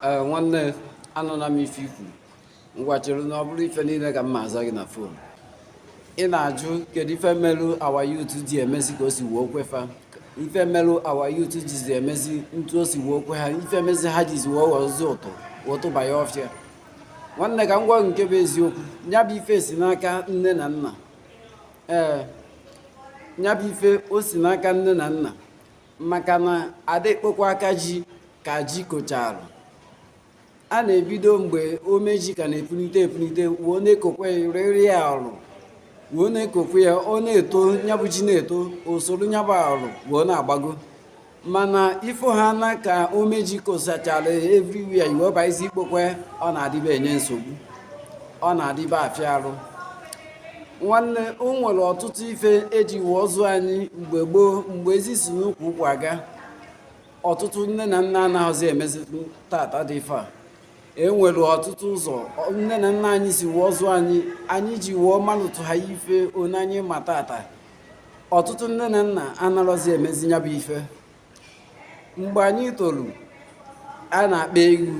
ee nwanne anụna m ife i kwu ngwa chere na ọ bụrọ ife niile ka m ma-aza gị na fon ị na-ajụ kedu ife merụ our youth ji emezi ka o si wee kwe fa ife merụ our youth jizi emezi etu o si wee kwe ha ife mezi ha jizi wee ghọzi ụtụ ụtụba ya ọfịa nwanne ka m gwa nke bụ eziokwu nya bụ ife si n'aka nne na nna ee nya bụ ife o si n'aka nne na nna maka na ada ekpokwa aka ji ka ji kochara a na-ebido mgbe ome ji ka na-epunite epunite wee na-ekokweriri ya ọrụ wee na-ekokwe ya ọ na-eto nyabụ ji na-eto usoro nyabụ ọrụ wee na-agbago mana ifo ha na ka ome ji kosachara everywhere i wee bịazi ikpokwe ya ọ na-adịba enye nsogbu ọ na-adịba afịa arụ nwanne o nwere ọtụtụ ife eji wee zụọ anyị mgbe gboo mgbe ezi si n'ukwu ụkwa aga ọtụtụ nne na nna anahọzi emezi tata dị ife a e nwere ọtụtụ ụzọ nne na nna anyị si wee zụọ anyị anyị ji wee malụtụ ha ife onye anyị ma tata ọtụtụ nne na nna anarọzi emezi nya bụ ife mgbe anyị tolu a na-akpa ewu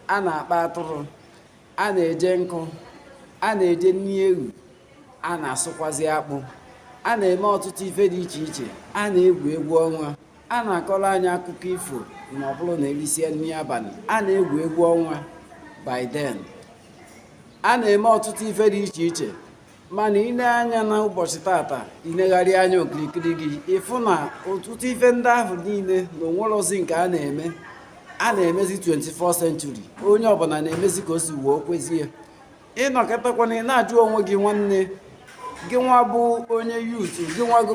a na-akpa atụrụ a na-eje nkụ a na-eje nni ewu a na-asụkwazi akpụ a na-eme ọtụtụ ife dị iche iche a na-egwu egwu ọnwa a na-akọrọ anyị akụkọ ifo ma ọ bụrụ na e risie nni abanị a na-egwu egwu ọnwa by then a na-eme ọtụtụ ife dị iche iche mana i lee anya na ụbọchị tata i negharịa anya okirikiri gị ị fụ na ọtụtụ ife ndị ahụ niile na onwerozi nke a na-eme a na-emezi 21st century onye ọbụla na-emezi ka o si wee kwezie ị nọkatakwana ị na-ajụ onwe gị nwanne gị nwa bụ onye youth gị nwa bụ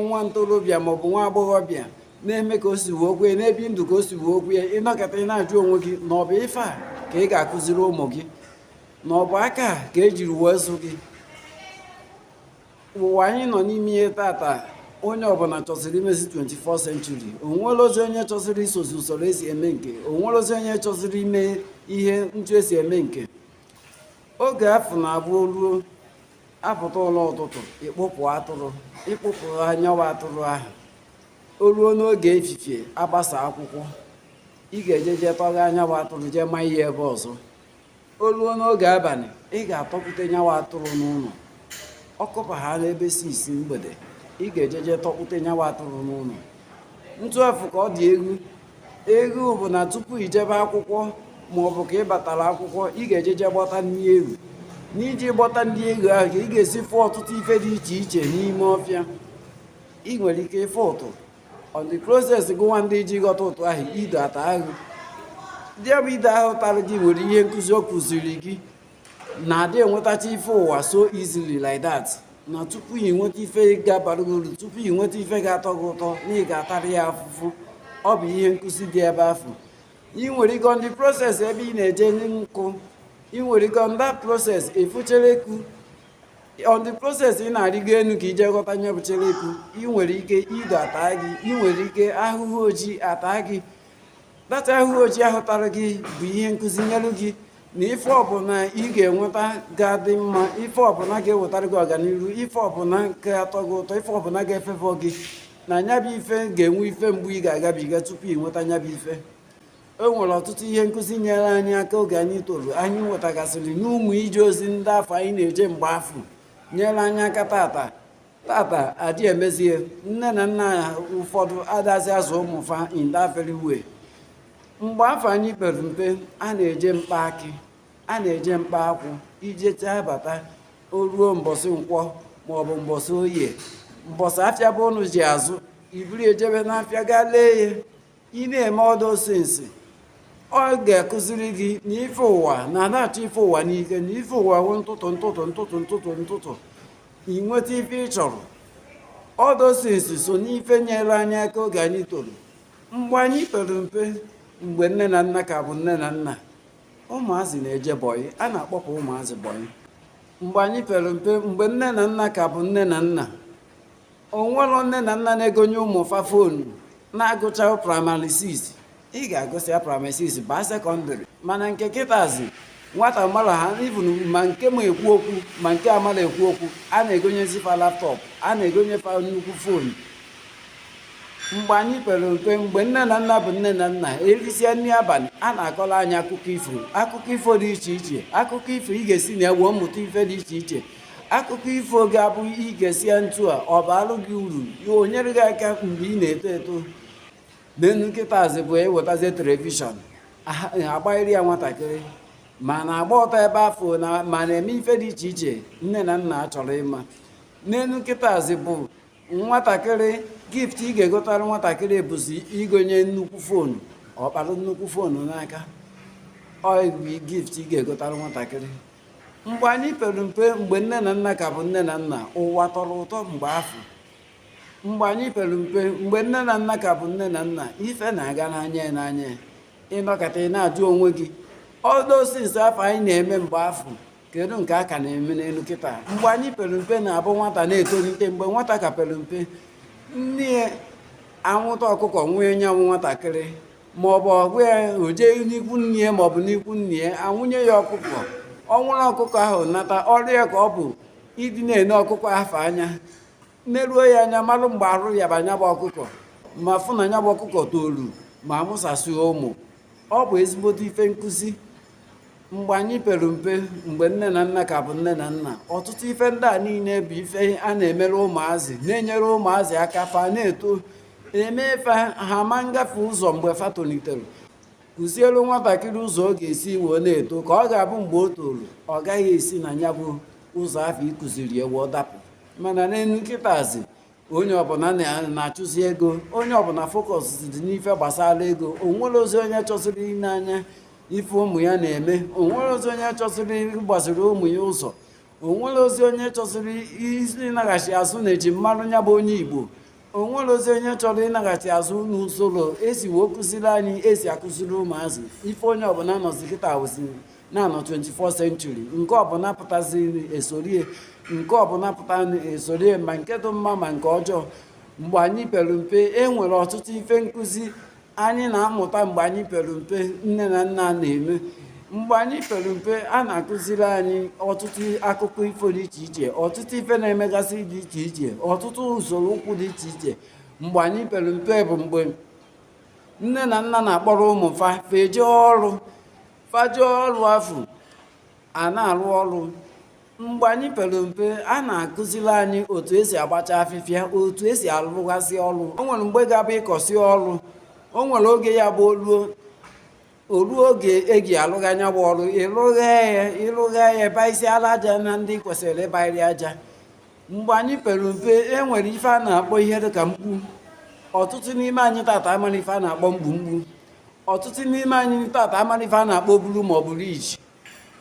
nwa ntorobịa maọbụ nwa agbọghọbịa na-eme ka o si wee kwee na-ebi ndụ ka o si wee kwee ị nọkata ị na-ajụ onwe gị na ọ bụ ife a ka ị ga-akụziri ụmụ gị na ọ bụ aka a ka ejiri wee zụ gị ụwa anyị nọ n'ime ya tata onye ọbụla chọsịrị imezi 21st century onwerozi onye chọsịrị isozi usoro esi eme nke onwerozi onye chọsịrị ime ihe etu esi eme nke oge afụ ọ na-abụ o ruo apụta ụla ụtụtụ ị kpụpụ atụrụ ị kpụpụ nyawa atụrụ ahụ o ruo n'oge efifie agbasa akwụkwọ ị ga-eje jee tọgha nyawa atụrụ jee ma ya ebe ọzọ o ruo n'oge abanị ị ga-atọkpụte nyawa atụrụ n'ụnọ ọ kụba ha n'ebe six mgbede ị ga-eje jee tọkpụte nyawa atụrụ n'ụnọ etu afụ ka ọ dị egwu egwu bụ na tupu i jebe akwụkwọ ma ọ bụ ka ị batara akwụkwọ ị ga-eje jee gbọta nni ewu n'iji gbọta nni ewu ahụ ka ị ga-esi fụ ọtụtụ ife dị iche iche n'ime ọfịa ị nwere ike ịfụ ụtụ on the process gụwa na-eje ghọta ụtụ ahụ ido ata ahụ nyabụ ido ahụ tara gị nwere ihe nkụzi ọ kụziri gị na adị enwetacha ife ụwa so easily like that na tupu ị nweta ife ga-abara gị uru tupu ị nweta ife ga-atọ gị ụtọ na ị ga-atara ya afụfụ ọ bụ ihe nkụzi dị ebe afụ ị nwere ike on the process ebe ị na-eje nkụ ị nwere ike on that process ịfụ cheleku on the process ị na-arịgo enu ka i je ghọta nyabụ cheleku ị nwere ike ido ata gị ị nwere ike ahụhụ ojii ata gị that ahụhụ ojii ahụ tara gị bụ ihe nkụzi nyelu gị na ife ọbụla ị ga-enweta ga-adị mma ife ọbụla ga-ewetara gị ọganihu ife ọbụla ga-atọ gị ụtọ ife ọbụla ga-efefọ gị na nyabụ ife ga-enwe ife mgbu ị ga-agabiga tupu ị nweta nyabụ ife e nwere ọtụtụ ihe nkụzi nyere anyị aka oge anyị toro anyị nwetagasịrị n'ụmụ ije ozi ndị afụ anyị na-eje mgbe afụ nyere anyị aka tata tata adị emezie nne na nna ụfọdụ adazi azụ ụmụfa in that very way mgbe afụ anyị pere mpe a na-eje mkpa akị a na-eje mkpa akwụ i jechaa bata o ruo mbọsị nkwọ maọbụ mbọsị oye mbọsị afịa be ụnụ ji azụ i buru ejebe n'afịa gaa lee ya ị na-eme all those things ọ ga-akụziri gị na ife ụwa na ana achọ ife ụwa n'ike na ife ụwa wụ ntụtụ ntụtụ ntụtụ ntụtụ ntụtụ ị nweta ife ị chọrọ all those things so n'ife nyere anyị aka oge anyị toro mgbe anyị pere mpe mgbe nne na nna ka bụ nne na nna ụmụazị na-eje bọyị a na-akpọpụ ụmụazị bọyị mgbe anyị pere mpe mgbe nne na nna ka bụ nne na nna o nwere nne na nna na-egonye ụmụ fa fonu na-agụcha praịmarị 6 ị ga-agụsị ya praịmarị 6 baa sekọndịrị mana nke kịtazi nwata mara ha even ma nke ma ekwu okwu ma nke amara ekwu okwu a na-egonyezi fa laptọpụ a na-egonye fa nnukwu fonu mgbe anyị pere mpe mgbe nne na nna bụ nne na nna erisie nri abalị a na-akọrọ anyị akụkọ ifo akụkọ ifo dị iche iche akụkọ ifo ị ga-esi na ya wee mụta ife dị iche iche akụkọ ifo ga-abụ i gesie ntị ọ baalụ gị uru ya o nyere gị aka mgbe ị na-eto eto n'enu kịtazị bụ e wetazie telivishọn agbanyere ya nwatakịrị ma na-agba ọtọ ebe afụ na ma na-eme ife dị iche iche nne na nna achọrọ ịma n'enu kịtazị bụ nwatakịrị gift ị ga-egotara nwatakịrị bụzi igonye nnukwu fonu ọ kpara nnukwu fonu n'aka ọ gift ị ga-egotara nwatakịrị mgbe anyị pere mpe mgbe nne na nna ka bụ nne na nna ụwa tọrọ ụtọ mgbe afụ mgbe anyị pere mpe mgbe nne na nna ka bụ nne na nna ife na-aga n'anya n'anya ị nọkata ị na-ajụ onwe gị those things afụ anyị na-eme mgbe afụ kedu nke a ka na-eme n'elu kịta mgbe anyị pere mpe na-abụ nwata na-etolite mgbe nwata ka pere mpe nne ya anwụta ọkụkọ wee nye nwa nwatakịrị ma ọ bụ ọgụ ya o jee n'ikwu nne ya ma ọ bụ n'ikwu nne ya a nwụnye ya ọkụkọ ọ nwụrụ ọkụkọ ahụ nata ọrụ ya ka ọ bụ ịdị na-ene ọkụkọ afụ anya neruo ya anya marụ mgbe arụ yaba nya bụ ọkụkọ ma fụ na nya bụ ọkụkọ toru ma mụsasịa ụmụ ọ bụ ezigbote ife nkụzi mgbe anyị pere mpe mgbe nne na nna ka bụ nne na nna ọtụtụ ife ndị a niile bụ ife a na-emere ụmụazị na-enyere ụmụazị aka fa na-eto eme ife ha ma ngafe ụzọ mgbe fa tolitere kụzielu nwatakịrị ụzọ ọ ga-esi wee na-eto ka ọ ga-abụ mgbe o toro ọ gaghị esi na nya bụ ụzọ afụ ị kụziri ya wee dapụ mana n'elu kịtazi onye ọbụla na-achụzi ego onye ọbụla focused n'ife gbasara ego o nwerọzi onye chọziri ile anya ife ụmụ ya na-eme o nwerọzi onye chọziri ịgbaziri ụmụ ya ụzọ o nwerọzi onye chọziri ịnaghachi azụ n'eji mara onye bụ onye igbo o nwerọzi onye chọrọ ịnaghachi azụ n'usoro esi wee kụziri anyị esi akụziri ụmụazị ife onye ọbụla nọzi kịta wee sị na a nọ 24 century nke ọbụla pụtazi esorie nke ọbụla pụta esorie ma nke dị mma ma nke ọjọọ mgbe anyị pere mpe e nwere ọtụtụ ife nkụzi anyị na-amụta mgbe anyị pere mpe nne na nna na-eme mgbe anyị pere mpe a na-akụziri anyị ọtụtụ akụkọ ifo dị iche iche ọtụtụ ife na-emegasị dị iche iche ọtụtụ usoro okwu dị iche iche mgbe anyị pere mpe bụ mgbe nne na nna na-akpọrọ ụmụ fa fa eje ọrụ fa jee ọrụ afụ a na-arụ ọrụ mgbe anyị pere mpe a na-akụziri anyị otu esi agbacha afịfịa otu esi arụgasị ọrụ o nwere mgbe ga-abụ ịkọsị ọrụ o nwere oge ya bụ oluo oruo oge eji alụgha nya bụ ọrụ ịlụgha ya ịlụgha ya baisi ala aja na ndị kwesịrị ịbairi aja mgbe anyị pere mpe e nwere ife a na-akpọ ihe dị ka mkpu ọtụtụ n'ime anyị tata amarọ ife a na-akpọ mgbu mgbu ọtụtụ n'ime anyị tata amarọ ife a na-akpọ obulu ma ọ bụrụ iji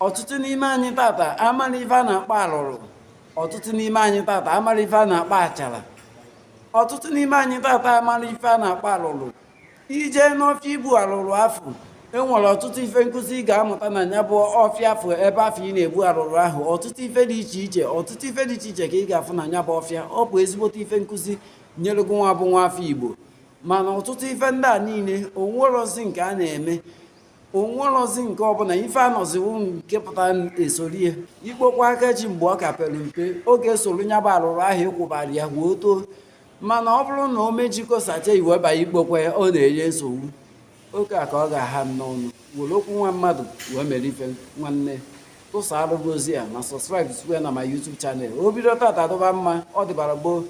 ọtụtụ n'ime anyị tata amarọ ife a na-akpọ arụrụ ọtụtụ n'ime anyị tata amarọ ife a na-akpọ achara ọtụtụ n'ime anyị tata amarọ ife a na-akpọ arụrụ ije n'ọfịa ibu arụrụ afụ e nwere ọtụtụ ife nkụzi ị ga-amụta na ya bụ ọfịa afụ ebe afụ ị na-ebu arụrụ ahụ ọtụtụ ife dị iche iche ọtụtụ ife dị iche iche ka ị ga-afụ na ya bụ ọfịa ọ bụ ezigbote ife nkụzi nyere gị nwa bụ nwa afọ igbo mana ọtụtụ ife ndị a niile o nwerozi nke a na-eme o nwerozi nke ọbụla ife anọziwo nke pụtara esori ya ikpokwa aka ji mgbe ọ ka pere mpe ọ ga-esoro nya bụ arụrụ ahụ ị kwụbara ya wee too mana ọ bụrụ na o mejikọ sacha i wee banye ikpokwa ya ọ na-enye nsogbu oke a ka ọ ga-aha n'ọnụ were okwu nwa mmadụ wee mere ife nwanne tụsa arụgozi ya na subscribe site na my YouTube channel o bido tata dụba mma ọ dịbara gboo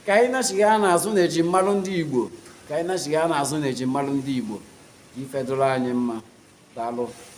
ka anyị nachigha n'azụ na eji mmalụ ndị Igbo ka anyị nachigha n'azụ na eji mmalụ ndị Igbo ife dụrụ anyị mma daalụ